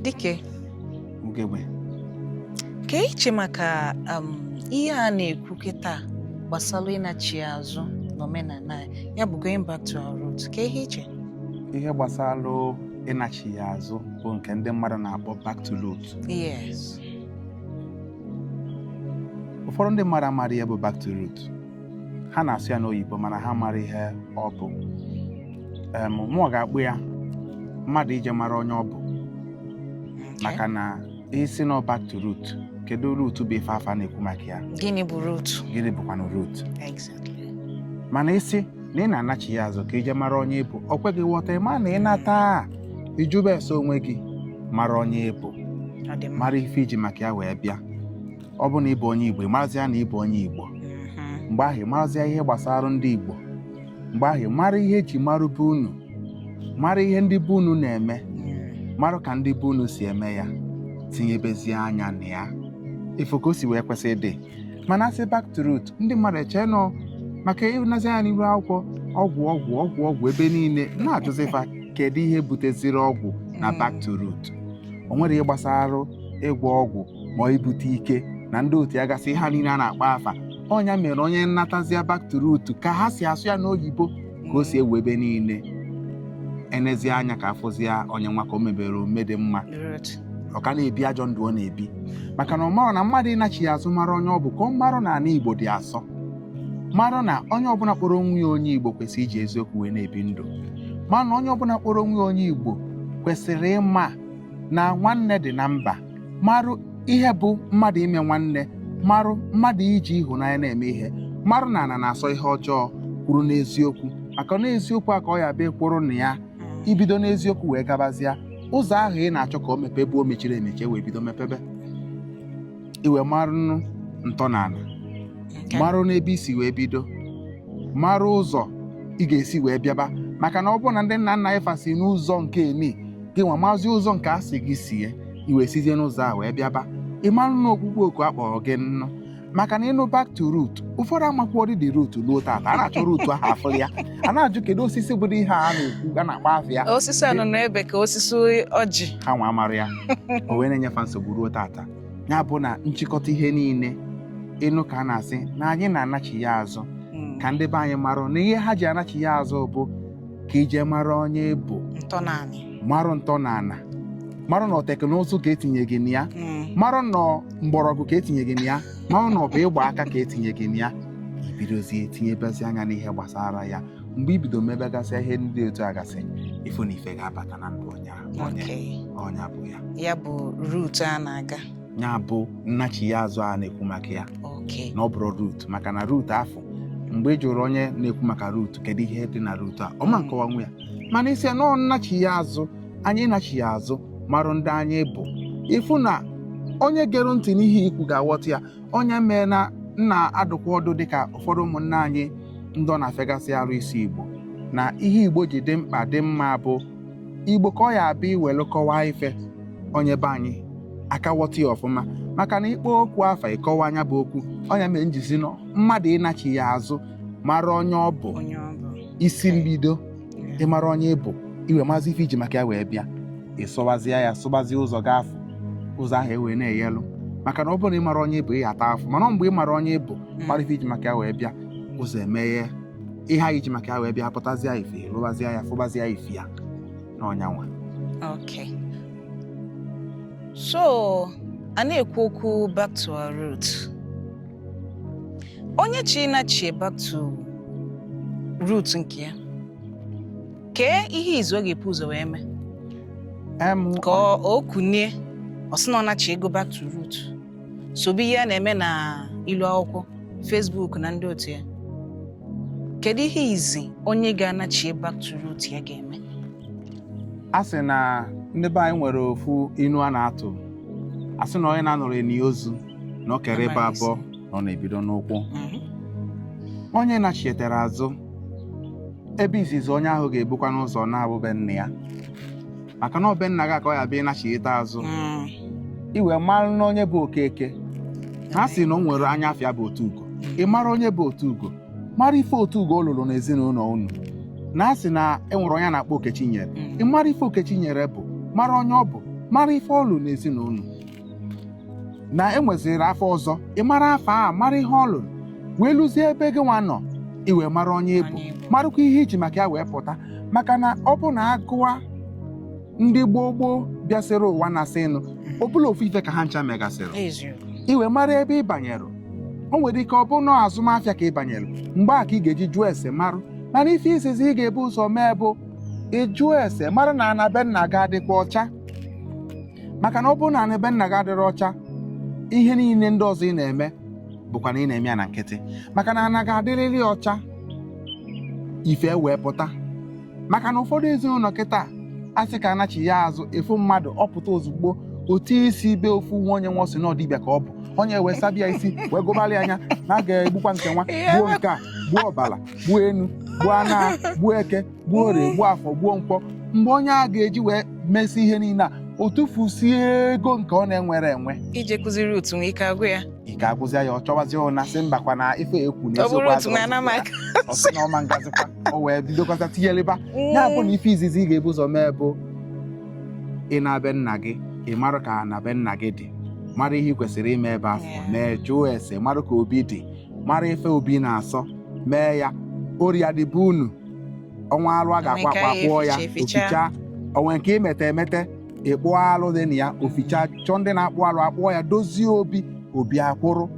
Dike. Ugegbe. Kee ihe i che maka um, ihe a na-ekwu kịta gbasara ịnachigha azụ n'omenala ya bụ going back to our roots kee ihe i che ihe gbasara ịnachigha azụ bụ nke ndị mmadụ na-akpọ back to roots yes ụfọdụ ndị mmadụ amarọ ya bụ back to roots ha na-asụ ya n'oyibo mana ha amarọ ihe ọ bụ Em, mụ ga-akpọ ya mmadụ ije mara onye ọ bụ maka na ị sị na ọ back to root kedu root bụ ife a fa na-ekwu maka ya gịnị bụ root gịnị bụkwanụ root exactly mana ị sị na ị na-anachigha azụ ka i je mara onye ị bụ o kwe gị ghọta ị ma na ị nata ịjụbe ese onwe gị mara onye ị bụ ọ dị mma mara ife i ji maka ya wee bịa ọ bụ na ị bụ onye Igbo ị marazịa na ị bụ onye Igbo Mhm. mgbe ahụ ị marazịa ihe gbasara ndị Igbo mgbe ahụ ị mara ihe e ji mara be unu mara ihe ndị be unu na-eme Mm. mara ka ndị be unu si eme ya tinyebezie anya na ya ị fụ ka o si wee kwesị ịdị mana a sị back to root ndị mmadụ echee na ọ maka ị nezie anya n'iru akwụkwọ ọgwụ ọgwụ ọgwụ ọgwụ ebe niile na-ajụzi fa kedu ihe buteziri ọgwụ na back to root o nwere ihe gbasara ịgwọ ọgwụ ma ọ ibute ike na ndị otu ya gasị ihe a niile a na-akpọ afa ọ nya mere onye natazịa back to root ka ha si asụ ya n'oyibo ka o si ewu ebe niile e nezie anya ka a fụzịa onye nwa ka o mebere omume dị mma ọ ka na-ebi ajọ ndụ ọ na-ebi maka na ọ marọ na mmadụ ịnachigha azụ mara onye ọ bụ ka ọ marụ na ana Igbo dị asọ marụ na onye ọbụna kpọrọ onwe ya onye Igbo kwesịrị iji eziokwu wee na-ebi ndụ marụ na onye ọbụna kpọrọ onwe ya onye Igbo kwesịrị ịma na nwanne dị na mba marụ ihe bụ mmadụ ime nwanne marụ mmadụ iji ịhụnanya na-eme ihe marụ na ana na-asọ ihe ọjọọ kwụrụ n'eziokwu maka na eziokwu a ka ọ ya-abụ ị kwụrụ na ya i bido n'eziokwu wee gabazịa ụzọ ahụ ị na-achọ ka o mepee bụ o mechiri emechi e wee bido mepebe i wee marụnụ ntọala Okay. marụ n'ebe i si wee bido marụ ụzọ ị ga-esi wee bịaba maka na ọ bụrụ na ndị nna nna anyị fa si n'ụzọ nke eni gị nwa mazi ụzọ nke a sị gị sie i wee sizie n'ụzọ a wee bịaba ị marụ na ọkpụkpọ oku a kpọrọ gị nnụ maka na ị nụ back to root ụfọdụ amakwarọ ụdịdị root luo tata a na-achọ root ahụ a fụ ya a na-ajụ kedu osisi bụ root a na-ekwu a na-akpọ afa ya osisi anunuebe ka osisi ọjị ha nwa amarọ ya o wee na-enye fa nsogbu ruo tata ya bụ na nchịkọta ihe niile ịnụ ka a na-asị na anyị na-anachigha azụ Mm. ka ndị be anyị marụ na ihe ha ji anachigha azụ bụ ka i je mara onye bụ ntọ naanị marụ ntọ na ana marụ na teknụzụ ka e tinye gị na ya Mm. marụ na mgbọrọgwụ ka e tinye gị na ya marụ na ọ bụ ịgba aka ka e tinye gị na ya i bidozie etinyebezi anya n'ihe gbasara ya mgbe i bido mebegasị ihe ndị dị otu a gasị ị fụ na ife ga-abata na ndụ onye ọ nya bụ ya ya bụ root a na-aga ya bụ nnachigha azụ a na-ekwu maka ya na ọ bụrọ root maka na root afụ mgbe ị jụrụ onye na-ekwu maka root kedu ihe dị na root a ọ ma nkọwanwu ya mana ị sị na ọ nnachigha azụ anyị nachigha azụ marụ ndị anyị bụ ị fụ na onye gere ntị n'ihe i kwu ga-aghọta ya ọ nya mee na m na-adụkwa ọdụ dịka ụfọdụ ụmụnna anyị ndị ọ na-afịagasị arụ ịsụ igbo na ihe igbo ji dị mkpa dị mma bụ igbo ka ọ ya-abụ i welu kọwaa ife onye be anyị aka aghọta ya ọfụma maka na ị kpọọ okwu afa ị kọwaa nya bụ okwu ọ nya mere m ji sị na mmadụ ịnachigha azụ mara onye ọ bụ onye ọ bụ isi mbido Yeah. ị mara onye ị bụ i wee mazie ife i ji maka ya wee bịa i sowezie ya sobezie ụzọ gị afụ ụzọ ahụ ewee na-eyelu maka na ọ bụrụ na ị marọ onye ị bụ ị taa afụfụ mana mgbe ị mara onye ị bụ mara ife i ji maka ya wee bịa ụzọ emeghe ihe i ji maka ya wee bịa pụtazịa ife lụbazịa ya fụbazịa ife ya na ọ nya nwa Okay. So, a na-ekwu okwu back to our root. Onye chọ ịnachi back to root nke ya. Kee ihe izizi ọ ga-ebu ụzọ wee mee em ka o kunie ọ sị na ọ nachigo back to root. sobe ihe a na-eme na ilu akwụkwọ Facebook na ndị otu ya kedu ihe izizi onye ga-anachi back to root ya ga-eme a sị na ndị be anyị nwere ofu inu a na-atụ a sị na onye na-anọrọ e nie ozu na o kere ịbọ Amaghị abọ na ọ na-ebido n'ụkwụ onye nachietere azụ ebe izizi onye ahụ ga-ebukwanụ ụzọ naa bụ be nna ya maka na ọ be nna gị ka ọ ya-abụ ị nachighata azụ Mm. i wee mara na onye bụ okeke a sị na o nwere anya afịa bụ otu ugo ị mara onye bụ otu ugo mara ife otu ugo ọ lụrụ n'ezinụlọ unu na a sị na e nwere onye a na-akpọ okechinyere Mm. ị mara ife okechinyere bụ mara onye ọ bụ mara ife ọ lụrụ n'ezinụlọ na e nweziri afa ọzọ ị mara afa a mara ihe ọ lụrụ wee luzie ebe gị nwa nọ i wee mara onye ị bụ Onye ị bụ. marụkwa ihe i ji maka ya wee pụta maka na ọ bụ na a gụwa ndị gboo gboo bịasịrị ụwa n'ezinụlọ ọ bụla ofu ife ka ha ncha megasịrị eziokwu i wee mara ebe ị banyere o nwere ike ọ bụ na azụmafịa ka ị banyere mgbe a ka ị ga-eji jụọ ese marụ mana ife izizi ị ga-ebu ụzọ mee bụ ịjụ ese mara na ana be nna gị adịkwa ọcha maka na ọ bụrụ na be nna gị adịrọ ọcha ihe niile ndị ọzọ ị na-eme bụkwa na ị na-eme ya na nkịtị maka na ana ga-adịrịrị ọcha ife wee pụta maka na ụfọdụ ezinụlọ kịta a sị ka a nachiya azụ efu mmadụ ọ pụta ozugbo ọ tụ isi be ofu nwa onye nwa ọ sị na ọ dibịa ka ọ bụ onye wee sabịa isi wee gụbalị onye a na a ga-egbukwa nke nwa gbuo nke a gbuo ọbala gbuo enu gbuo ana gbuo eke gbuo orie gbuo afọ gbuo nkwọ mgbe onye a ga-eji wee mesị ihe niile a ọ tụfusie ego nke ọ na-enwerọ enwe ije kụziri utu nwe ike agwụ ya ike agwụzịa ya ọ chọwazie ụna sị mbakwa na ife ekwu na ọ bụrụ otu nwe anamaka ọ sị na ọ ma ngazikwa o wee bidokọta tinyeleba ya bụ na ife izizi ị ga-ebu ụzọ mee bụ ịna be nna gị ị mara ka na be nna gị dị mara ihe ị kwesịrị ime ebe afụ Yeah. mee jụọ ese mara ka obi dị mara ife obi na-asọ mee ya orịa dị be unu o nwe alụ a ga-akwa Emeka akwa ya kpụọ ya eficha, eficha. oficha o nwe nke i mete emete ịkpụ alụ dị na ya oficha chọọ ndị na-akpụ alụ akpụọ ya dozie obi obi akwụrụ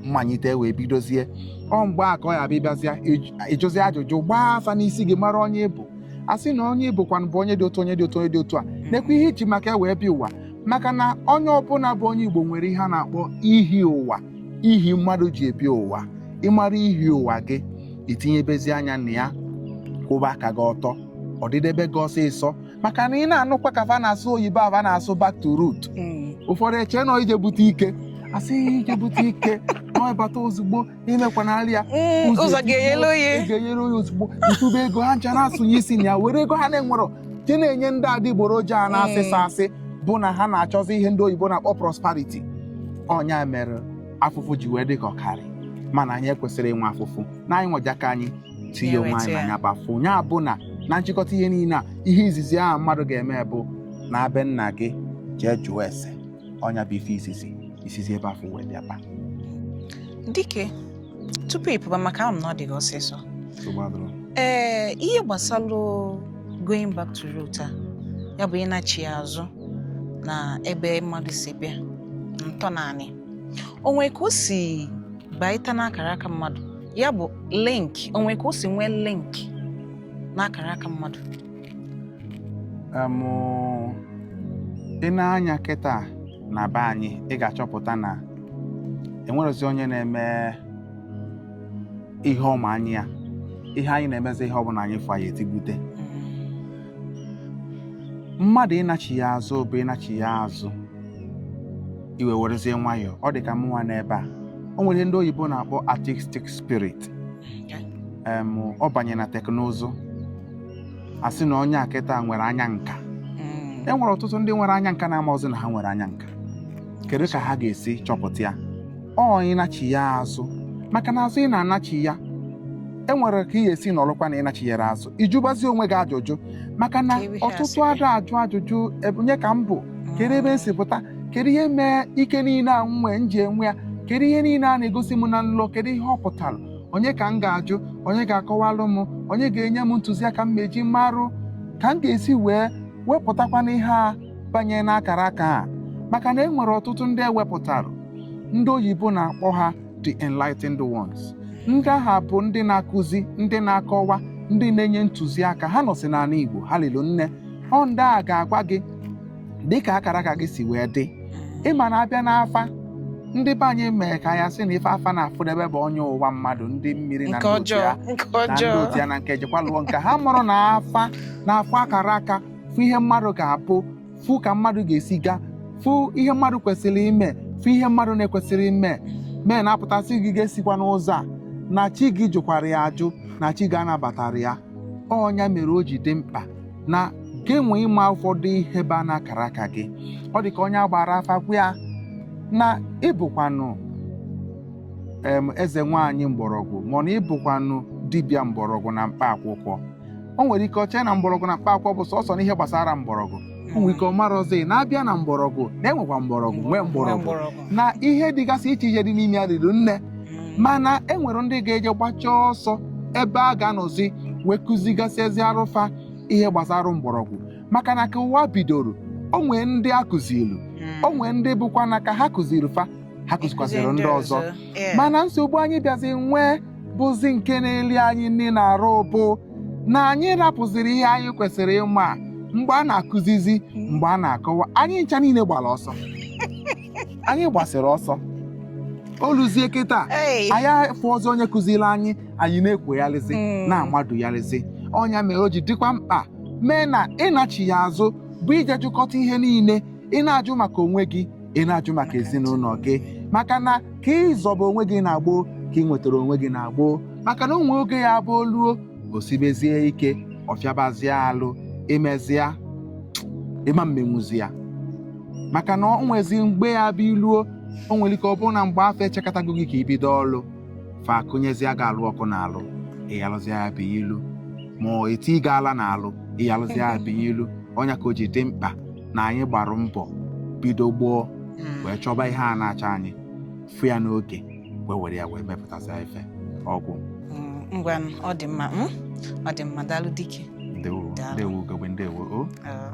ị manyite wee bidozie ọ mgbe a ka ị ya-abịa bịazịa ịj- ịjụzi ajụjụ gbaa afa n'isi gị mara onye ị bụ a sị na onye ị bụkwanụ bụ onye dị otu onye dị otu onye dị otu a nekwa ihe i ji maka ya wee bịa ụwa maka na onye ọbụla bụ onye igbo nwere ihe a na-akpọ ihi ụwa ihi mmadụ ji bịa ụwa ị mara ihi ụwa gị i tinyebezi anya na ya kwụba aka gị ọtọ ọ dịdebe gị ọsịsọ maka na ị na-anụkwa ka fa na-asụ oyibo a fa na-asụ back to root Mm. ụfọdụ eche na ije bute ike a sị ya ije bute ike na ọ bata ozugbo imekwanarị ya Mm, ụzọ ga-enyere ị oye ga-enyere onye ozugbo ntụba ego ha ncha na-asụnye isi na ya were ego ha na-enwerọ nke na-enye ndị adịgboroja a na-asịsa Mm. asị bụ na ha na-achọzi ihe ndị oyibo na-akpọ prosperity ọ nya mere afụfụ ji wee dị ka ọ karị mana anyị ekwesịrị inwe afụfụ na anyịnwa ji aka anyị tinye onwe anyị na ya bụ afụfụ ya bụ na na nchịkọta ihe niile a ihe izizi ahụ mmadụ ga-eme bụ ịna be nna gị jee jụọ ese ọ nya bụ ife izizi i sizi ebe afụ wee bịaba dike tupu ị pụba maka ahụ m na ọ dị gị ọsịsọ nsogbu adịrọ ee ihe gbasalụ going back to root a ya bụ ịnachi azụ na ebe mmadụ si bịa ntọnanị o nwe ka o si bata n'akara aka mmadụ ya bụ link o nwe ka o si nwee link n'akara aka mmadụ em, i nee anya kịta na be anyị ị ga-achọpụta na enwerọzi onye na-eme ihe ọ ma anya ya ihe anyị na-emezi ihe ọbụla anyị fụ anyị etigbute mmadụ ịnachiya azụ bụ ịnachiya azụ i wee werezie nwayọọ ọ dị ka mụnwa n'ebe a o nwere ihe ndị oyibo na-akpọ artistic spirit em, ọ banye na teknụzụ asị na onye a kịta nwere anya nka Mm. e nwere ọtụtụ ndị nwere anya nka na-amarọzi na ha nwere anya nka kedu ka ha ga-esi chọpụta ya ọ ịnachiya azụ maka na azụ ị na-anachiya e nwere ka ị ga-esi nọrọkwa na ị nachiyere azụ ị jụbazi onwe gị ajụjụ maka na ọtụtụ ada ajụ ajụjụ onye ka m bụ kedu ebe m si pụta kedu ihe mee ike niile a m nwee m ji enwe ya kedu ihe niile a na-egosi m na nlọ kedu ihe ọ pụtara onye ka m ga-ajụ onye ga-akọwalụ m onye ga-enye m ntụziaka m eji marụ ka m ga-esi wee wepụtakwanụ ihe a banye n'akara aka a maka na e nwere ọtụtụ ndị e wepụtara ndị oyibo na-akpọ ha the enlightened ones ndị a ha bụ ndị na-akụzi ndị na-akọwa ndị na-enye ntụziaka ha nọsị n'anị Igbo ha lilu nne ọ ndị a ga-agwa gị dịka akara aka gị si wee dị ị ma na a bịa n'afa ndị be anyị mere ka ya sị na ife afa na-afụdebe bụ onye ụwa mmadụ ndị mmiri na nke ndị otu ọjọọ ya nke na ndị ọjọọ otu ya na nke jekwa lụọ nke ha mụrụ na afa na-afụ akara aka fụ ihe mmadụ ga-abụ fụ ka mmadụ ga-esi gaa fụ ihe mmadụ kwesịrị ime fụ ihe mmadụ na-ekwesịrị ime mee na a pụta sị gị gị esikwana ụzọ a na chi gị jụkwara ya ajụ na chi gị anabatarọ ya ọ nya mere o ji dị mkpa na gị nwa ịma ụfọdụ ihe ba n'akara aka gị ọ dị ka onye a gbara afa gwa ya na ị bụkwanụ em eze nwaanyị mgbọrọgwụ ma ọ na ị bụkwanụ dibịa mgbọrọgwụ na mkpa akwụkwọ o nwere ike o chee na mgbọrọgwụ na mkpa akwụkwọ bụ sọsọ n'ihe gbasara mgbọrọgwụ nwere ike ọ marọzi na a bịa na mgbọrọgwụ na-enwekwa mgbọrọgwụ nwee mgbọrọgwụ na ihe dịgasị iche iche dị n'ime ya riri nne mana e nwere ndị ga-eje gbachaa ọsọ ebe a ga-anọzi wee kụzigasịezịarụ fa ihe gbasara mgbọrọgwụ maka na ka ụwa bidoro o nwee ndị a kụzilu o nwee ndị bụkwa na ka ha kụziri fa ha kụzikwaziri ndị ọzọ mana nsogbu anyị bịazi nwee bụzi nke na-eli anyị nni n'arụ bụ na anyị rapụziri ihe anyị kwesịrị ịma mgbe a na-akụzizi mgbe a na-akọwa anyị ncha niile gbara ọsọ anyị gbasịrị ọsọ o luzie kịta anyị afụrọzi onye kụziri anyị anyị na-ekwogharịzi hmm. na-amadugharịzi ọ nya mere o ji dịkwa mkpa mee na ịnachiya azụ bụ ije jụkọta ihe niile ị na-ajụ maka onwe gị ị na-ajụ maka ezinụlọ gị maka na ka ị zọba onwe gị na gboo ka ị nwetara onwe gị na gboo maka na o nwe oge ya-abụ o luo o sibezie ike ọ fịabazie alụ imezi ya ị ma emenwuzi ya maka na o nwezi mgbe ya-abụ i luo o nwere ike ọ bụrụ na mgbe afụ e chekọtago gị ka i bido ọlụ fa akụnyezie gị alụ ọkụ n'alụ ị ya-alụzi ya bụ ịlụ ma ọ eti gị ala n'alụ ị ya-alụzi ya bụ ịlụ ọ nya ka o ji dị mkpa na anyị gbara mbọ bido gboo Mm. wee chọba ihe a na-achọ anyị fụ ya n'oge wee were ya wee mepụtasịa ife ọgwụ Mm, ngwa n- ọ dị mma mm? ọ dị mma daalụ dike ndewo Daalụ. ndewo ugegbe ndewo o Ah.